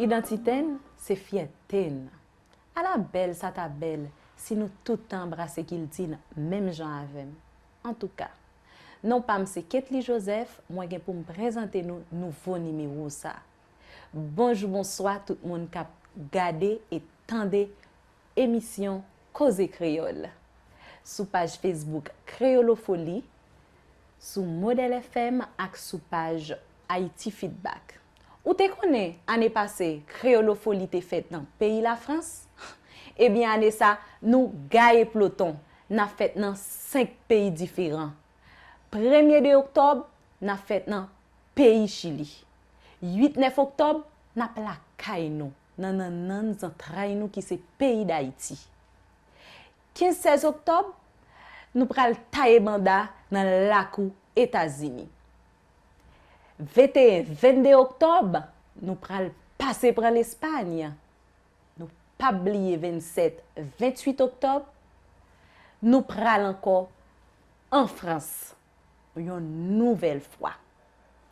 Idantite n se fyète n. Ala bèl sa ta bèl si nou tout ta anbrase kilti n menm jan avè m. Antouka, non pa m se Ketly Joseph, mwen gen pou m prezante nou nouvo nimewo sa. Bonjou bonswa tout moun k ap gade e tande emisyon Koze Kreyòl sou paj Facebook Kreyolofoli, sou Modèl FM ak sou paj Haiti Feedback. Ou te konnen ane pase Kreyolofoli te fèt nan peyi Lafrans? Ebyen ane sa nou gaye ploton, n ap fèt nan 5 peyi diferan. Premye 2 oktòb, n ap fèt nan peyi Chili. 8, 9 oktòb, n ap lakay nou, nan nannan zantray nou ki se peyi Dayiti. 15, 16 oktòb, nou pral taye banda nan lakou Etazini. 21, 22 oktòb, nou pral pase pran Lespayn. Nou pap bliye 27, 28 oktòb, nou pral ankò an Frans yon nouvèl fwa.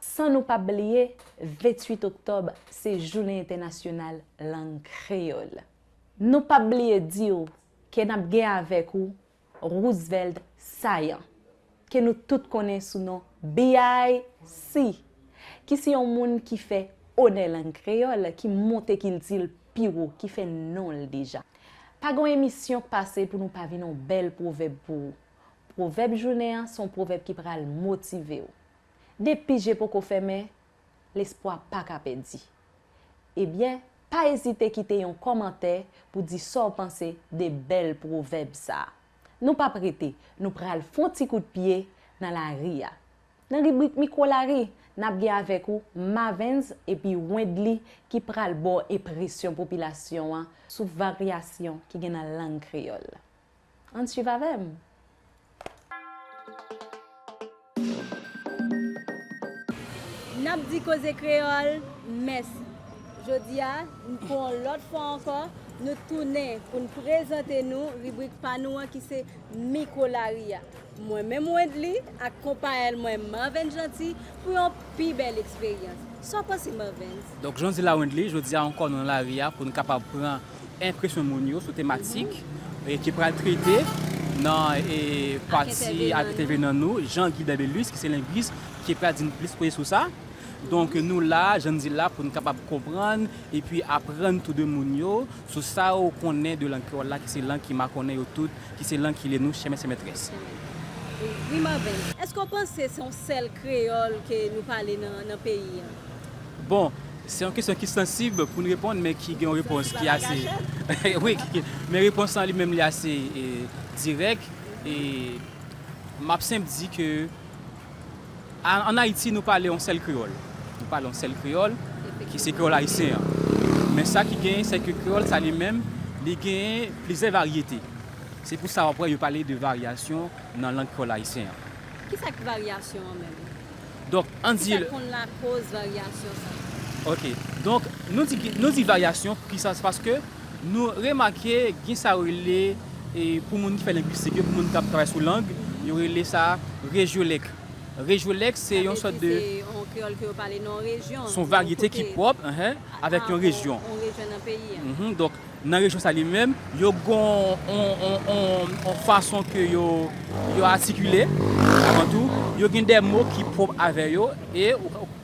San nou pap bliye 28 oktòb se jounen entènasyonal lang kreyòl. Nou pap bliye di w ke n ap gen avèk ou Roosevelt Saillant, ke nou tout konnen sou non BIC, ki se yon moun ki fè onè lang kreyòl, ki monte kilti l pi wo, ki fè non l deja. Pa gon emisyon k pase pou nou pa vin yon bèl pwovèb pou ou. Pwovèb jounen an se yon pwovèb ki pral motive w. Depi je poko fèmen, Lespwa pa ka pèdi. Ebyen, pa ezite kite yon kòmantè pou di sa w panse de bèl pwovèb sa a. Nou p ap rete, nou pral fon ti kout pye nan lari a. Nan ribrik Mikwo Lari, n ap gen avèk ou Mavens epi Wendly ki pral ba w enpresyon popilasyon an sou varyasyon ki gen nan lang kreyòl. Ann swiv avè m! N ap di koze kreyòl mèsi. Jodi a, pou yon lòt fwa ankò, nou tounen pou n prezante nou ribrik pa nou an ki se Mikwolari a. Mwen menm Wendly ak konpayèl mwen Marvens Jeanty pou yon pi bèl eksperyans. Sa w panse Marvens? Donk jan w di la Wendly, jodi a ankò nou nan lari a pou nou kapab pran enpresyon moun yo sou tematik ki pral trete nan pati ak entèvenan nou Jean Guy Bebelus ki se lengwis ki pral di nou plis koze sou sa. Donk nou la, jan n di l la, pou n kapab konprann epi aprann tou de moun yo Sou sa ou konnen de lang kreyòl la ki se lang ki makonnen yo tout, ki se lang ki lye nou, chè mèt chè mètrès. Wi Marven, èske ou panse se yon sèl kreyòl ke nou pale nan peyi an? Bon, se yon kesyon ki sansib pou n reponn men ki gen yon repons ki ase, wi, men repons lan li menm li ase dirèk e m ap senp di ke, An Ayiti nou pale yon sèl kreyòl. Nou pale yon sèl kreyòl ki se kreyòl ayisyen an. Men sa ki genyen se ke kreyòl sa li menm li genyen plizyè varyete. Se pou sa w ap wè yo pale de varyasyon nan lang kreyòl ayisyen an. Ki sa ki varyasyon an menm? Donk an di. Ki sa ki konn lakoz varyasyon sa? Ok. Donk nou di varyasyon pou ki sa? Se paske. Nou remake gen sa yo rele, pou moun ki fè lengwistik yo, pou moun k ap travay sou lang, yo rele sa rejyolèk. Rejyolèk se yon sòt de. Sa vle di se yon kreyòl ke yo pale nan yon rejyon. Se yon varyete ki pwòp avèk yon rejyon. Avèk yon rejyon nan peyi a. Donk, nan rejyon sa li menm, yo gen yon fason ke yo atikile. Avan tou, yo gen de mo ki pwòp avè yo e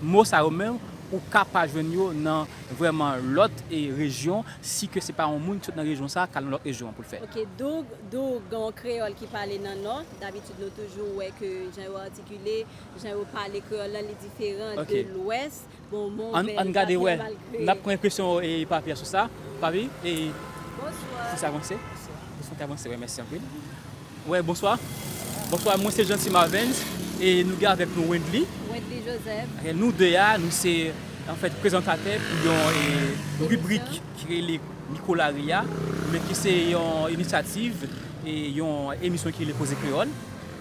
mo sa yo menm ou ka pa jwenn yo nan. vrèman lòt rejyon si ke se pa yon moun ki sot nan rejyon sa kal nan lòt rejyon an poul fè. Ok Doug, Doug gen yon kreyòl ki pale nan nò, dabitid nou toujou wè ke jan yo atikile, jan yo pale kreyòl lan li diferan de lwès, bon mwen ouvè lespri an malgre. Nap pran enpresyon Papi a sou sa, Papi e. Bonswa. Fòk sa avanse, fòk sa avanse wi mèsi anpil. Wè bonswa bonswa mwen se Jeanty Marvens e nou gen avèk nou Wendly Wendly Joseph nou 2 a nou se anfèt prezantatè pou yon ribrik ki rele mikolari a men ki se yon inisyativ e yon emisyon ki rele koze kreyòl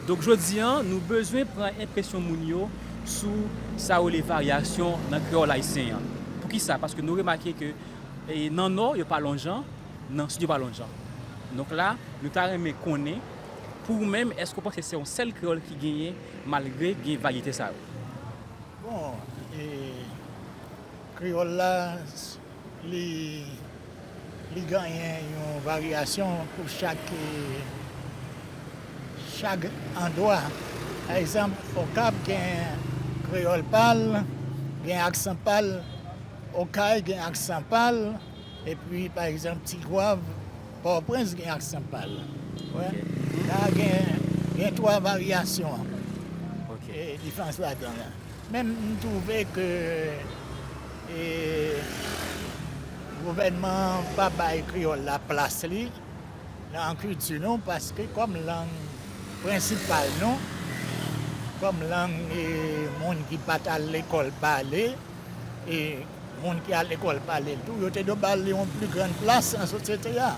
donk jodi an nou bezwen pran enpresyon moun yo sou sa yo rele varyasyon nan kreyòl ayisyen an poukisa paske nou remake ke nan nò yo pa lonjan. Nan studio pa lonjan. Donk la nou ta renmen konnen pou ou menm eske ou panse se yon sèl kreyòl ki genyen malgre gen varyete sa yo? Bon e kreyòl la li li ganyen yon varyasyon pou chak chag andwa. Pa egzanp Okap gen kreyòl pa l, gen aksan pa l, Okay gen aksan pa l. Epi pa egzanp ti gwav pòtoprens gen aksan pal wè la gen 3 varyasyon diferans ladan la menm m twouve ke gouvènman an pa bay kreyòl la plas li nan kilti nou paske kòm lang prensipal nou kòm lang moun ki pat al lekòl pale e Moun ki al lekòl pale l tou, yo te dwe ba l yon pli gran plas nan sosyete a.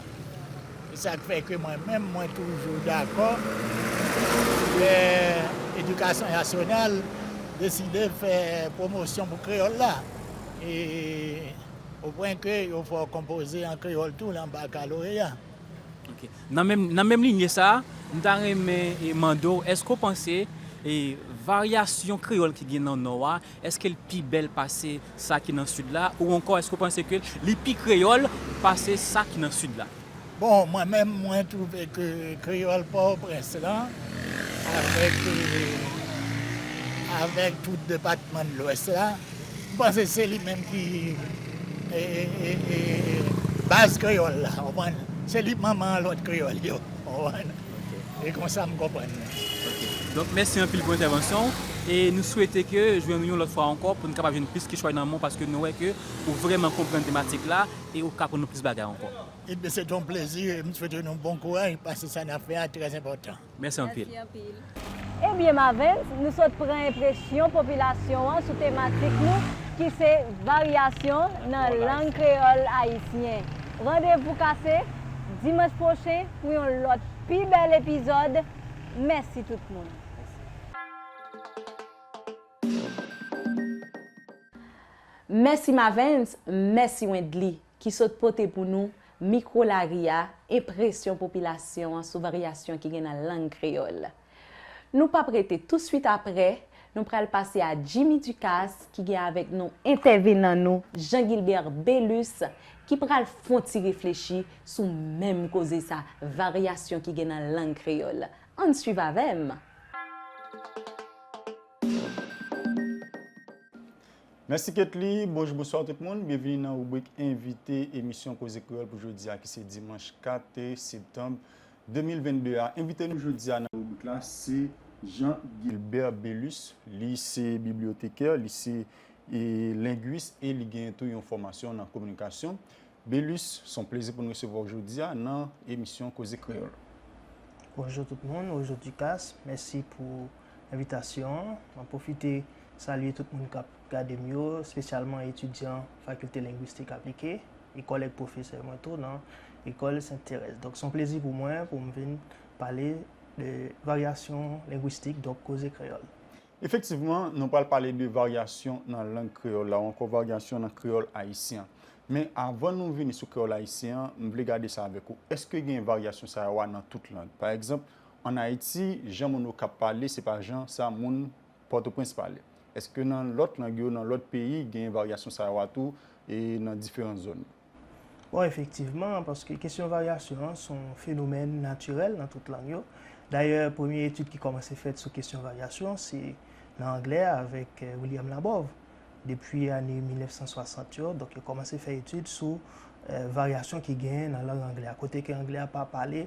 Se sa k fè ke mwen menm, mwen toujou dakò lè edikasyon nasyonal deside fè pwomosyon pou kreyòl la, e o pwen ke yo fè w konpoze an kreyòl tou nan bakaloreya. Ok. Nan menm linye sa a, m ta renmen mande w, èske w panse varyasyon kreyòl ki gen nan Nò a Èske l pi bèl pase sa ki nan Sid la? Ou ankò èske ou panse ke li pi kreyòl pase sa ki nan Sid la? Bon, mwen menm, mwen twouve ke kreyòl Pòtoprens lan avèk, avèk tout depatman de Lwès la, m panse se li menm ki baz kreyòl la, ou konprann? Se li manman lòt kreyòl yo, ou konprann? E konsa m konprann li. Ok. Donk mèsi anpil pou entèvansyon w. E nou swete ke jwenn ou yon lòt fwa ankò pou nou kapab jwenn plis kichòy nan men w paske nou wè ke ou vrèman konprann tematik la e ou ka aprann nou plis bagay ankò. Ebyen se te yon plezi e m swete nou bon kouraj paske sa n ap fè a trè enpòtan. Mèsi anpil. Ebyen Mavens, nou sot pran enpresyon popilasyon an sou tematik nou ki se varyasyon nan lang kreyòl ayisyen. Randevou kase dimanch pwochen. pou yon lòt pi bèl epizòd mèsi tout moun. Mèsi Mavens, mèsi Wendly ki sot pote pou nou Mikwo lari a, enpresyon popilasyon an sou varyasyon ki gen nan lang kreyòl. Nou pap rete touswit aprè, nou pral pase a Jimmy Ducasse ki gen avèk nou entèvenan nou Jean Guilbert Belus ki pral fon ti reflechi sou menm koze sa, varyasyon ki gen nan lang kreyòl. Ann swiv avè m! Mèsi Ketly, bonjou bonswa tout moun, byenvini nan ribrik envite emisyon Koze Kreyòl pou jodi a ki se dimanch 4 septanb 2022 a. Envite nou jodi a nan ribrik la se Jean Guilbert Belus, li se bibliotekè, li se lengwis e li genyen tou yon fòmasyon nan kominikasyon. Belus, se yon plezi pou nou resevwa w jodi a nan emisyon Koze Kreyòl. Bonjou tout moun, bonjou Ducasse, mèsi pou envitasyon an. Mwen pwofite salye tout moun k ap gade m yo, spesyalman etidyan Fakilte Lengwistik Aplike e kòlèg pwofesè mwen tou nan Lekòl Sent Terèz. Donk, se yon plezi pou mwen pou m vin pale de varyasyon lengwistik, donk koze kreyòl. Efektivman, nou pral pale de varyasyon nan lang kreyòl la ou ankò varyasyon nan kreyòl ayisyen an. Men, avan nou vini sou kreyòl ayisyen an, m vle gade sa avèk ou, èske gen varyasyon sa yo a nan tout lang? Pa egzanp, ann Ayiti, jan moun Okap pale se pa jan sa moun Pòtoprens pale. Eske nan lòt lang yo, nan lòt peyi gen varyasyon sa yo a tou e nan diferan zòn yo? Bon, efektivman, paske kesyon varyasyon an son fenomèn natirèl nan tout lang yo. Dayè, premye etid ki kòmanse fèt sou kesyon varyasyon se nan anglè a avèk William Labov. Depi ane 1960 yo, donk yo kòmanse fè etid sou varyasyon ki genyen nan lang anglè a, kote ke anglè a pa pale.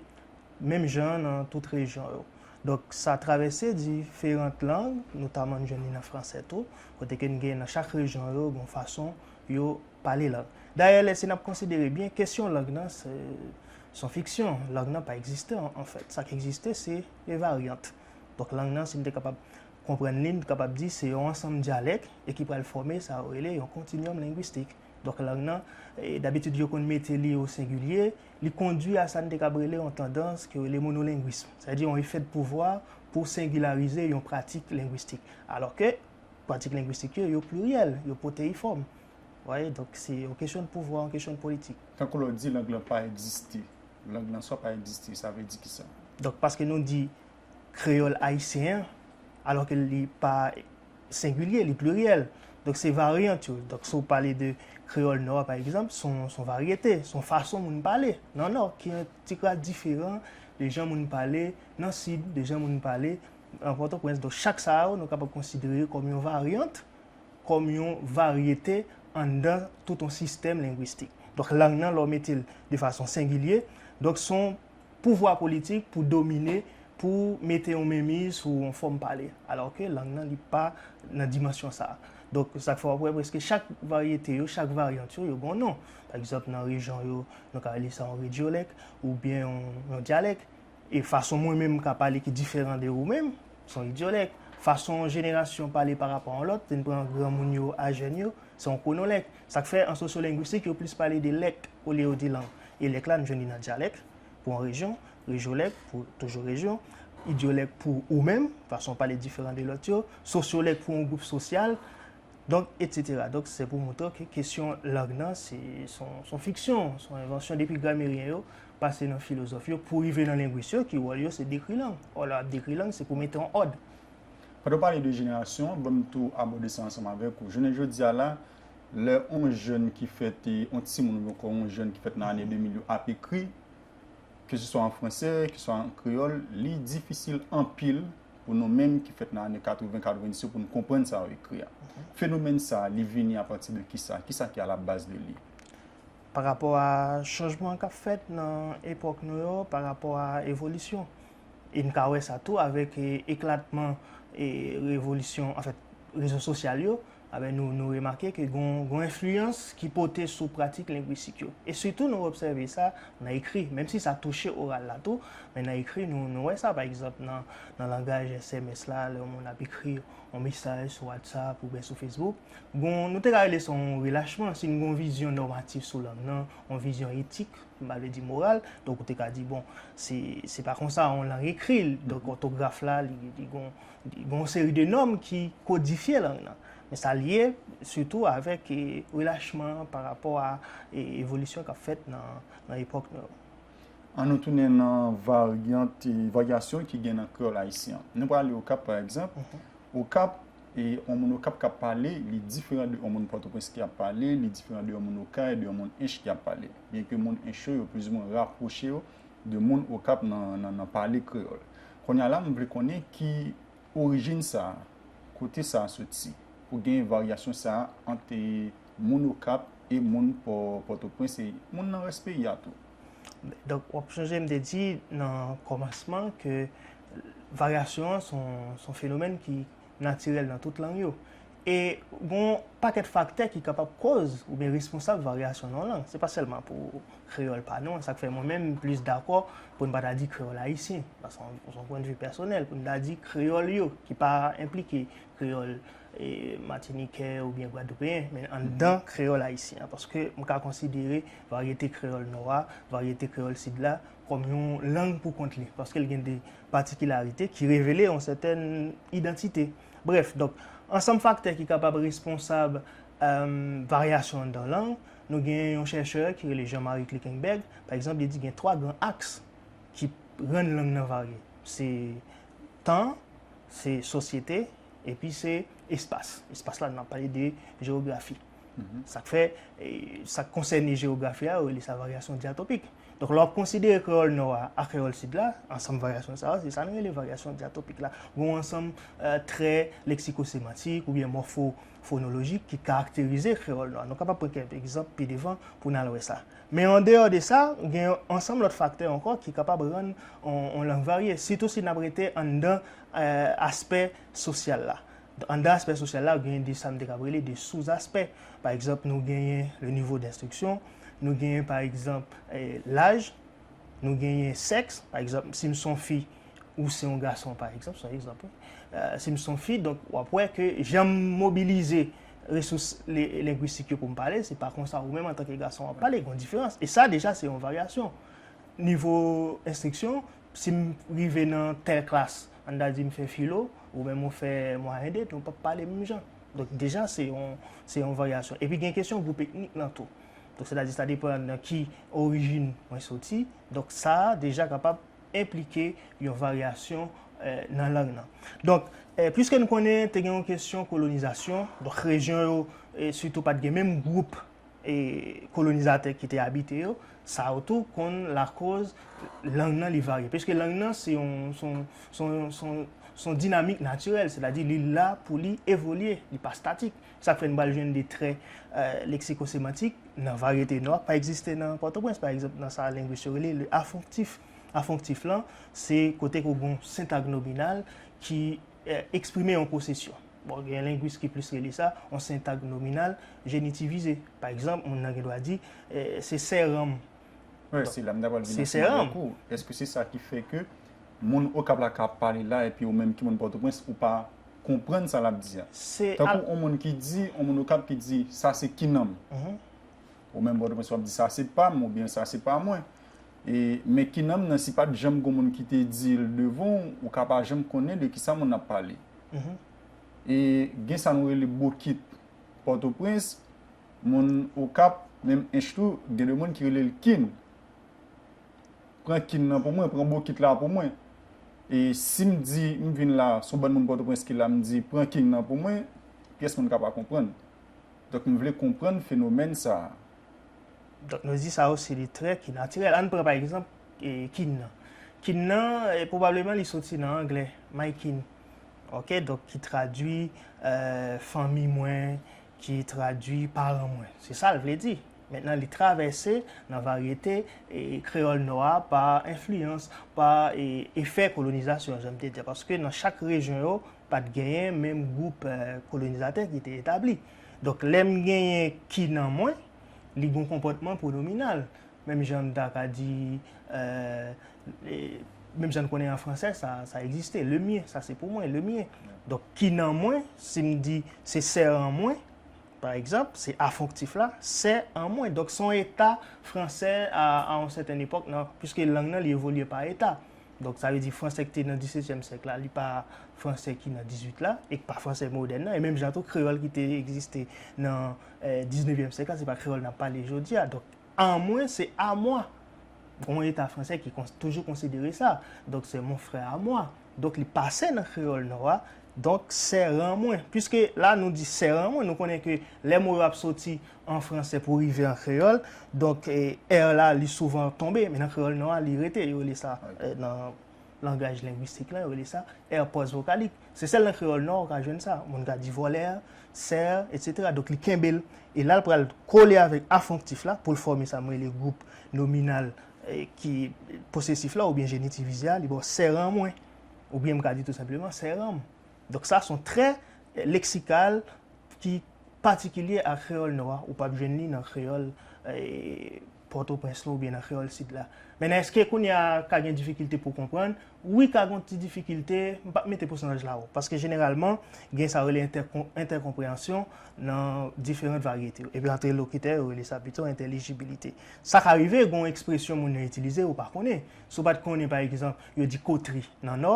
menm jan an nan tout rejyon yo. Donk, sa travèse diferant lang, notaman n jwenn li nan franse tou, kote ke n gen nan chak rejyon yo gen yon fason yo pale lang. Dayè, lè si n ap konsidere byen, kesyon lang nan se yon fiksyon, lang nan pa egziste anfèt. Sa k egziste se de varyant. Donk, lang nan, si n te kapab konprann li, n te kapab di se yon ansanm dyalèk e ki pral fòme sa yo rele yon kontinyòm lengwistik. Donk, lang nan, dabitid yo konn mete li osengilye, Li kondui a sa n te kab rele yon tandans ki rele monolengwism, sa vle di yon efè de pouvwa pou sengilarize yon pratik lengwistik, alò ke pratik lengwistik yo, yo pliryèl, yo pwoteyifòm. W aye? Donk, se yon kesyon de pouvwa, yon kesyon de politik. Tankou lè w di lang lan pa egziste, lang lan swa pa egziste, sa vle di kisa? Donk, paske nou di kreyòl ayisyen an, alò ke li pa sengilye, li pliryèl. Donk se varyant yo. Donk si w pale de kreyòl nò a pa egzanp, se yon varyete, se yon fason moun pale nan nò ki yon ti kras diferan de jan moun pale nan sid, de jan moun pale nan Pòtoprens. Donk chak sa yo nou kapab konsidere yo kòm yon varyant, kòm yon varyete anndan tout yon sistèm lengwistik. Donk lang nan lè w mete l de fason sengilye, donk se yon pouvwa politik pou domine, pou mete yon menmiz sou yon fòm pale. Alò ke lang nan li pa nan dimansyon sa a. Donk, sa k fè w ap wè prèske chak varyete yo, chak varyant yo, yo gen yon non. Pa egzanp, nan rejyon yo, nou ka rele sa yon rejyolèk, oubyen yon dyalèk. E fason mwen menm m ka pale ki diferan de ou menm, se yon rejyolèk. Fason yon jenerasyon pale parapò yon lòt, si n pran granmoun yo a jèn yo, Se yon kwonolèk. Sa k fè an sosyolengwistik yo plis pale de lèk olye yo di lang. E lèk la nou jwenn li nan dyalèk, pou yon rejyon, rejyolèk, pou toujou rejyon, idyolèk pou ou menm, fason w pale diferan de lòt yo, sosyolèk pou yon gwoup sosyal, donk, etsetera. Donk, se pou montre w ke kesyon lang nan se yon fiksyon, se yon envansyon depi grameryen yo, pase nan filozòf yo, pou rive nan lengwis yo ki wòl yo se dekri lang. Wòl yo ap dekri lang se pou mete yon òd. Pandan w pale de jenerasyon, ban m tou abòde sa ansanm avèk ou. Jounen jodi a la, lè yon jèn ki fèt, yon timoun oubyen ankò yon jèn ki fèt nan ane 2000 yo ap ekri, ke se swa an franse, ke se swa an kreyòl, li difisil anpil pou nou menm ki fèt nan ane 80, 90 yo pou nou konprann sa yo ekri a. Fenomèn sa a, li vini apati de ki sa? Ki sa ki alabaz de li? Parapò a chanjman k ap fèt nan epòk nou yo, parapò a evolisyon E n ka wè sa tou avèk eklatman revolisyon, anfèt, rezo sosyal yo, nou remake ke gon enfliyans ki pote sou pratik lengwistik yo. E sitou nou obsève sa nan ekri, menm si sa touche oral la tou, men nan ekri nou wè sa, pa egzanp, nan langaj sms la, lè yon moun ap ekri yon mesaj sou WhatsApp oubyen sou Facebook, gon, nou te ka rele sa yon relachman, si n gen yon vizyon nòmatif sou lang nan, yon vizyon etik M pa vle di moral, donk ou te ka di bon, se pa konsa yon lang ekri, donk òtograf la li gon yon seri de nòm ki kodifye lang nan. Men sa lye sitou avèk relachman an pa rapò a evolisyon k ap fèt nan epòk nou yo. An nou tounen nan varyant, varyasyon ki gen nan kreyòl ayisyen an. Nou pral ale Okap pa egzanp, Okap. E yon moun Okap k ap pale, li diferan de yon moun Pòtoprens ki ap pale, li diferan de yon moun Okay, de yon moun Ench ki ap pale. Byenke moun Ench yo, yo plizimen rapwoche yo de moun Okap nan pale kreyòl. Kounye a la, m vle konnen ki orijin sa a, kote sa a soti pou gen varyasyon sa a ant moun Okap e moun Pòtoprens e moun nan rès peyi a tou? Donk wap sonje m te di nan kòmansman ke varyasyon an son fenomèn ki natirèl nan tout lang yo. E gon pakèt faktè ki kapab koz oubyen responsab varyasyon nan yon lang. Se pa sèlman pou kreyòl pa nou an. Sa k fè mwen menm m plis dakò pou n pa ta di kreyòl ayisyen. Sa son pwennvi pèsonèl pou n ta di kreyòl yo ki pa enplike kreyòl matinikè oubyen gwadloupeyen, men anndan kreyòl ayisyen an. Paske m ka konsidere varyete kreyòl Nò a, varyete kreyòl Sid la kòm yon lang pou kont li. Paske l gen de patikilarite ki revele yon sètèn idantite. Brèf, donk, ansanm faktè ki kapab responsab varyasyon anndan yon lang, nou gen yon chèchè ki rele Jean Marie Klickenberg, pa egzanp, li di gen twa gran aks ki rann lang nan varye. Se. tan, se sosyete, epi se espas. Espas la, n ap pale de jewografi. Sa k fè, sa k konsène jewografi a, yo rele sa varyasyon dyatopik. Donk, lè w ap konsidere kreyòl nò a ak kreyòl sid la, ansanm varyasyon sa yo, se sa nou rele varyasyon dyatopik la. Gen yon ansanm trè leksikosemantik oubyen mòfo. fonolojik ki karakterize kreyòl nou an. Nou kapab pran kèk egzanp pi devan pou n al wè sa. Men an deyò de sa, gen yon ansanm lòt faktè ankò ki kapab rann yon lang varye, sitou si n ap rete anndan aspè sosyal la. Anndan aspè sosyal la, gen de sa m te kapab rele de souzaspè. Pa egzanp, nou genyen le nivo denstriksyon, nou genyen pa egzanp laj, nou genyen sèks, pa egzanp, si m s on fi, ou se yon gason pa egzanp, son egzanp wi, si m son fi, donk w ap wè ke jan m mobilize resous lengwistik yo pou m pale, se pa konsa ou menm antanke gason w ap pale, gon diferans. E sa deja se yon varyasyon. Nivo enstriksyon, si m rive nan tèl klas, an ta di m fè filo, ou menm ou fè mwayen 2, nou p ap pale menm jan. Donk deja se yon varyasyon. Epi gen kesyon gwoup etnik lan tou. Donk se ta di sa depan nan ki orijin mwen soti, donk sa deja kapab. enplike yon varyasyon nan lang nan. Donk, pwiske nou konnen te gen yon kesyon kolonizasyon, donk rejyon yo sitou pa t gen menm gwoup kolonizatè ki te abite yo, sa yo tou konn lakoz lang nan li varye. Piske lang nan se yon dinamik natirèl, sètadi li la pou li evolye, li pa statik. Sa k fè n pral jwenn de trè leksikosemantik nan varyete nou ak pa egziste nan Pòtoprens, pa egzanp, nan sa lengwis yo rele le afonktif. Afonktif lan, se kote ke w gen yon sentag nominal ki eksprime yon posesyon. Bon, gen lengwis ki plis rele sa yon sentag nominal jenitivize. Pa egzanp, moun nan gen dwa di, Se sè ranm. Wè, se la m ta pral vin ansanm avèk ou. Èske se sa ki fè ke moun Okap la ka pale la epi oumenm ki moun Pòtoprens ou pa konprann sa l ap di a. Tankou on moun ki di, on moun Okap ki di, sa se kinanm. Ou menm Pòtoprens w ap di sa se pa m oubyen sa se pa mwen. E men kinanm nan si pa t janm gen on moun ki te di l devan w, ou ka pa janm konnen de kisa moun nan ap pale. E gen sa nou rele bokit Pòtoprens, moun Okap, menm Ench tou, gen de moun ki rele l kin. Pran kin nan pou mwen, pran bokit la pou mwen. E si m di m vin la, s on bann moun Pòtoprens ki la, m di pran king nan pou mwen, pyès moun ka pa konprann. Donk m vle konprann fenomèn sa a. Donk nou di sa yo se de trè ki natirèl. Ann pran pa egzanp kin nan. Kin nan, pwobableman li soti nan angle, my kin. Oke, donk ki tradui fanmi mwen, ki tradui paran mwen. Se sa l vle di. Mentnan li travèse nan varyete kreyòl nò a pa enfliyans, pa efè kolonizasyon, jan m te di a, paske nan chak rejyon yo, pa t genyen menm gwoup kolonizatè ki te etabli. Donk lè m genyen ki nan mwen, li gen yon konpòtman pwonominal. Menm jan m ta ka di, menm jan n konnen an fransè sa egziste, le mien, sa se pou mwen, le mien. Donk ki nan mwen, si m di se sè an mwen. Pa egzanp, se afonktif la, sè an mwen. Donk, se yon eta franse a yon sèten epòk nan, piske lang nan li evolye pa eta. Donk, sa vle di franse ki te nan disetyèm syèk la, li pa franse ki nan dizuit la, e ki pa franse modèn nan. E menm jan tou, kreyòl ki te egziste nan diznevyèm syèk la, se pa kreyòl n ap pale jodi a. Donk, an mwen, se a mwa. Yon eta franse ki toujou konsidere sa. Donk, se mon frère à moi. Donk li pase nan kreyòl nò a, donk sèran mwen. Piske la nou di sèran mwen, nou konnen ke lè mo yo ap soti an franse pou rive an kreyòl, donk er la li souvan tonbe, men nan kreyòl nò a li rete. Yo rele sa nan langaj lengwistik lan, yo rele sa er pòsvokalik. Se sèl nan kreyòl nò ou ka jwenn sa. Moun ka di vòlè, sè, etsetera. Donk li kenbe l, e la l pral kole avèk afonktif la pou l fòme sa m rele gwoup nominal ki posesif la oubyen jenitivize a, li ba w sèran mwen. Oubyen m ka di tou senpleman sèran m. Donk sa son trè leksikal ki patikilye a kreyòl nou a. Ou pap jwenn li nan kreyòl Pòtoprens lan oubyen nan kreyòl Sid la. Mennen èske kounye a ka gen difikilte pou w konprann? Wi ka gon ti difikilte, m pap mete pousantaj la wo, paske jeneralman gen sa yo rele entèkonpreyansyon nan diferant varyete yo, epi ant elokitè yo rele sa pito entèlijibilite. Sa ka rive gon ekspresyon moun nan itilize ou pa konnen, si w pat konnen pa egzanp yo di kotri nan Nò,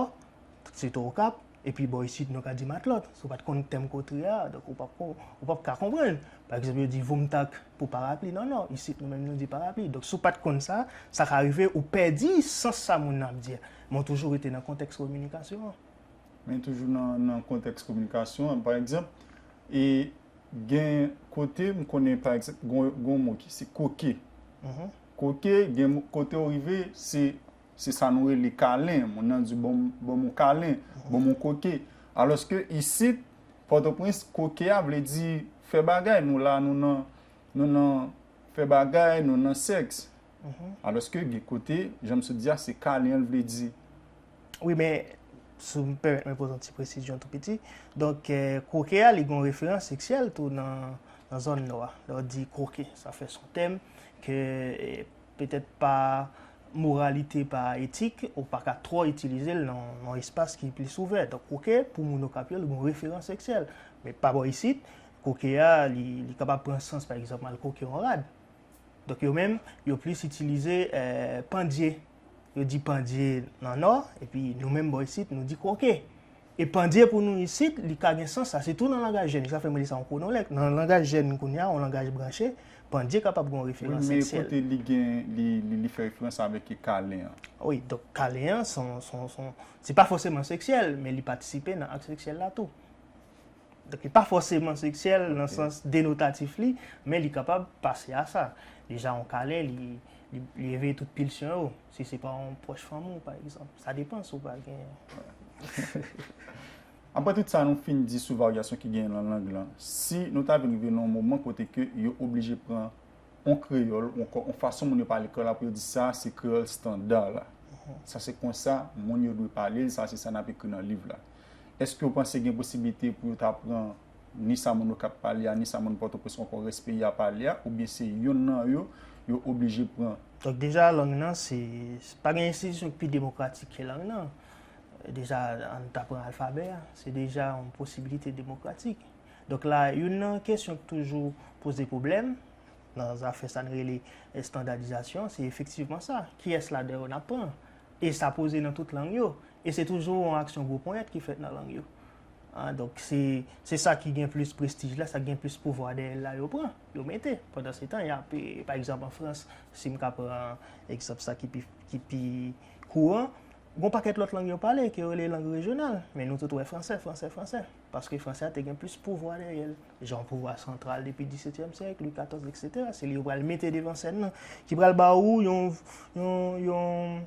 sitou Okap, Epi bò isit nou ka di matlòt. Si w pa t konn tèm kotre a, donk ou pap kon, ou pap ka konprann. Pa egzanp yo di voumtak pou parapli. Non non, isit nou menm nou di parapli. Donk si w pa t konn sa, sa ka rive ou pèdi sans sa moun nan ap di a. Men w toujou rete nan kontèks kominikasyon an. Men toujou nan kontèks kominikasyon an. Pa egzanp, e gen kote m konnen pa egzanp gen yon mo ki se koke. Koke gen kote ou rive se. Se sa nou rele kalen, moun nan di bon m yon kalen, bon m yon koke. Alòske isit, Pòtoprens, koke a vle di fè bagay, nou la nou nan, nou nan fè bagay, nou nan sèks. Alòske gen kote, jan m sot di a, se kalen an l vle di. Wi men, si w pèmèt mwen poze yon ti presizyon tou piti, donk koke a li gen yon referans seksyèl tou nan zòn nou a. Lè w di koke, sa fè son tèm ke petèt pa moralite, pa etik, ou pa ka twò itilize l nan yon espas ki plis ouvè. Donk koke pou moun Okap yo li gon referans seksyèl. Men pa bò isit, koke a li kapab pran sans pa egzanp al koke yon rad. Donk yo menm yo plis itilize pandye. Yo di pandye nan Nò epi nou menm bò isit nou di koke. E pandye pou nou isit, li ka gen sans sa. Sitou nan langaj jèn. Sa fè mwen rele sa yon kronolèk. Nan langaj jèn kounye a, yon langaj branche, pandye kapab gen yon referans seksyèl. Wi, men kote li gen, li fè referans avèk kalen an. Wi, donk kalen an, se yon, se pa fòseman seksyèl, men li patisipe nan ak seksyèl la tou. Donk li pa fòseman seksyèl nan sans denotatif li, men li kapab pase a sa. Deja yon kalen, li eveye tout pilsyon yo. Si se pa yon pwòch fanmi w, pa egzanp, sa depan si w pa genyen. Apre tout sa nou fin di sou varyasyon ki genyen nan lang lan, si nou ta vin rive nan yon moman kote ke yo oblije pran yon kreyòl ou ankò yon fason moun yo pale kreyòl apre yo di sa se kreyòl standa la, sa se konsa moun yo dwe pale l, sa se sa n ap ekri nan liv la, èske w panse gen posiblite pou yo ta pran. ni sa moun Okap pale a, ni sa moun Pòtoprens onkò rès peyi a pale a, oubyen se yonn nan yo, yo oblije pran. Donk deja lang nan se, pa gen enstitisyon ki pi demokratik ke lang nan. Deja ann ta pran alfabè a, se deja yon posibilite demokratik. Donk la, youn nan kesyon ki toujou poze pwoblèm, nan zafè sa n rele estandadizasyon, se efektivman sa, kiyès ladan yo n ap pran? E sa poze nan tout lang yo. E se toujou yon aksyon gwo ponyèt ki fèt nan lang yo. An, donk se, se sa ki gen plis prestij la, sa ki gen plis pouvwa dèyè l la yo pran, yo mete. Pandan se tan y ap, pa egzanp an Frans, si m ka pran egzanp sa ki pi, ki pi kouran, gon pakèt lòt lang yo pale, ke yo rele lang rejyonal, men nou tout wè franse, franse, franse. Paske franse a te gen plis pouvwa dèyè l. Jan pouvwa santral depi disetyèm syèk, Lwi katòz, eksetera, se li yo pral mete devan sèn nan, ki pral ba ou yon, yon, yon.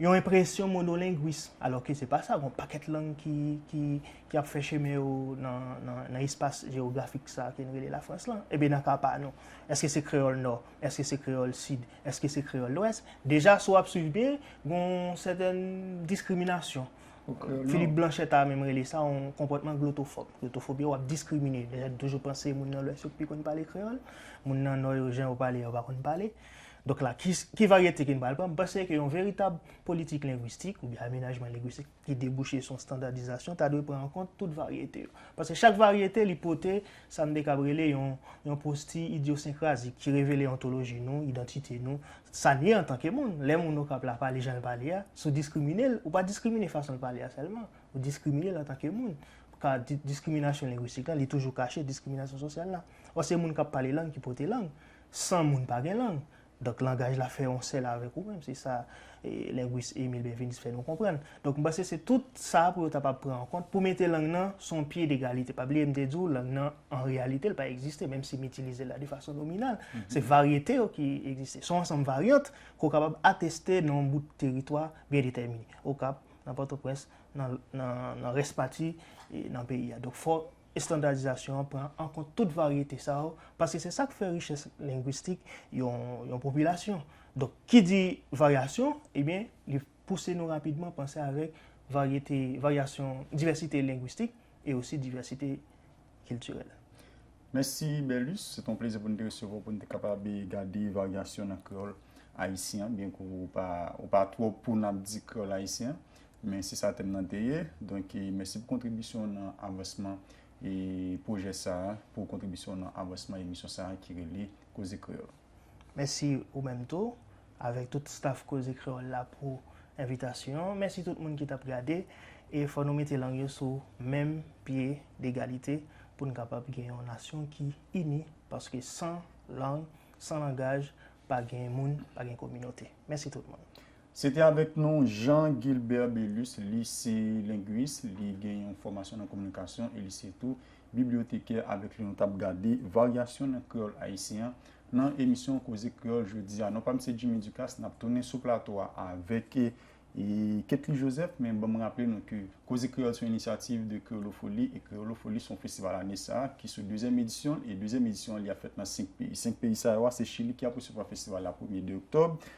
Yon enpresyon monolengwis, alò ke se pa sa, gon pakèt lang ki ap fè chemen yo nan espas jewografik sa ke nou rele Lafrans lan. Ebyen nan ka pa nou, èske se kreyòl nò, èske se kreyòl sid, èske se kreyòl lwès? Deja si w ap swiv byen, gon sèten diskriminasyon. Philippe Blanchet ta menm rele sa yon konpòtman glotofòb. Glotofòb yo ap diskrimine. Deja nou toujou panse moun nan lwès yo pi konn pale kreyòl, moun nan nò yo jan yo pale yo pa konn pale. Donk la, ki varyete ke nou pral pran? M panse ke yon veritab politik lengwistik oubyen amenajman lengwistik ki debouche sou yon standadizasyon ta dwe pran an kont tout varyete yo. Paske chak varyete li pote sa m te kab rele yon posti idyosenkrazik ki revele ontoloji nou, idantite nou, sa n ye antanke moun. Lè moun Okap la pale jan l pale a, si w diskrimine l, ou pa diskrimine fason l pale a sèlman, ou diskrimine l antanke moun. Ka diskriminasyon lengwistik lan, li toujou kache diskriminasyon sosyal la. Ò se moun k ap pale lang ki pote lang. San moun pa gen lang, donk langaj la fè yon sèl avèk ou menm, se sa lengwis Emile Benveniste fè nou konprann. Donk m panse se tout sa pou yo ta pa pran an kont pou mete lang nan sou yon pye degalite. Pa bliye m te di w lang nan an reyalite l pa egziste menm si m itilize l la de fason nominal. Se varyete yo ki egziste. Se yon ansanm varyant ke w kapab ateste nan yon bout teritwa byen detèmine. Okap, nan Pòtoprens, nan rès pati nan peyi a. Donk fò Estandadizasyon an pran an kont tout varyete sa yo, paske se sa k fè richès lengwistik yon popilasyon. Donk, ki di varyasyon, ebyen, li pouse nou rapidman panse avèk varyete, varyasyon, divèsite lengwistik e osi divèsite kiltirèl. Mèsi Bèlus, se te yon plezi pou n te resevwa w pou n te kapab gade varyasyon nan kreyòl ayisyen an, byenke ou pa twò pou n ap di kreyòl ayisyen an. Men se sa tèm nan te ye. Donk mèsi pou kontribisyon w nan avansman pwojè sa a, pou kontribisyon w nan avansman emisyon sa a ki rele Koze Kreyòl. Mèsi ou menm tou, avèk tout staf Koze Kreyòl la pou envitasyon an. Mèsi tout moun ki t ap gade. E fò nou mete lang yo sou menm pye degalite pou n kapab gen yon nasyon ki ini, paske san lang, san langaj, pa gen moun, pa gen kominote. Mèsi tout moun. Se te avèk nou Jean Guilbert Belus, li se lengwis, li gen yon fòmasyon nan kominikasyon e li se tou biblyotekè avèk li nou t ap gade varyasyon nan kreyòl ayisyen an nan emisyon Koze Kreyòl jodi a. Non pa m se Jimmy Ducas, n ap tounen sou plato a avèk Ketly Joseph men ban m raple nou ke Koze Kreyòl s on inisyativ de Kreyolofoli e Kreyolofoli s on festival ane sa a ki sou dezyèm edisyon l e dezyèm edisyon an li ap fèt nan 5 peyi. 5 peyi sa yo a se Chili ki ap resevwa festival la premye 2 oktòb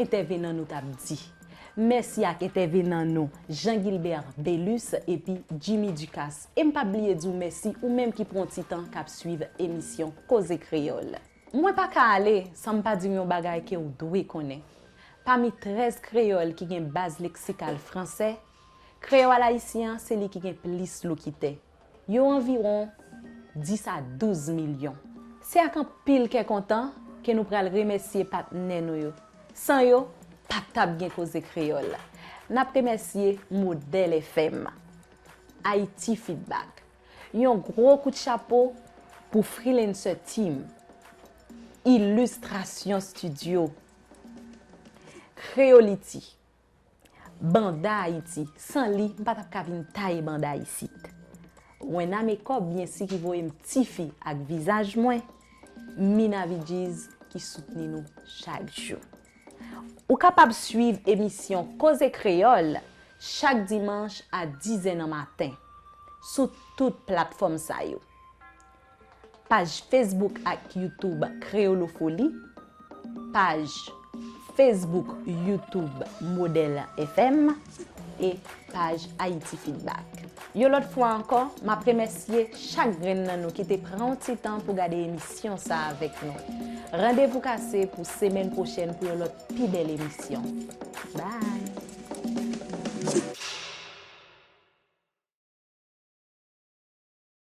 Entèvenan nou tap di. Mèsi ak entèvenan nou Jean Guilbert Belus epi Jimmy Ducasse. E m pap bliye di w mèsi ou menm ki pran ti tan kap swiv emisyon Koze Kreyòl. Mwen pa ka ale san m pa di w yon bagay ke w dwe konnen. Pami 13 kreyòl ki gen baz leksikal fransè, kreyòal ayisyen an se li ki gen plis lokitè. Yo anviwon 10 a 12 milyon. Se ak anpil kè kontan ke nou pral remèsye patnè nou yo. San yo, pa t ap gen Koze Kreyòl. N ap remèsye Modèl FM, Ayiti Fidbak. Yon gwo kout chapo pou Freelancer Team, Illustration Studio, Creolity. Banda Ayiti, san li m pa tap ka vin taye banda isit. Wena Mekòp byen si ki voye m tifi ak vizaj mwen, Mina Vidjiz ki soutni nou chak jou. Ou kapab swiv emisyon Koze Kreyòl chak dimanch a dizè nan maten sou tout platfòm sa yo. Paj Facebook ak YouTube Kreyolofoli Paj Facebook, YouTube Model FM e paj Haïti Feedback Yon lòt fwa ankò, m ap remèsye chak grenn nan nou ki te pran yon ti tan pou gade emisyon sa avèk nou. Randevou kase pou semèn pwochèn pou yon lòt pi bèl emisyon. Bye!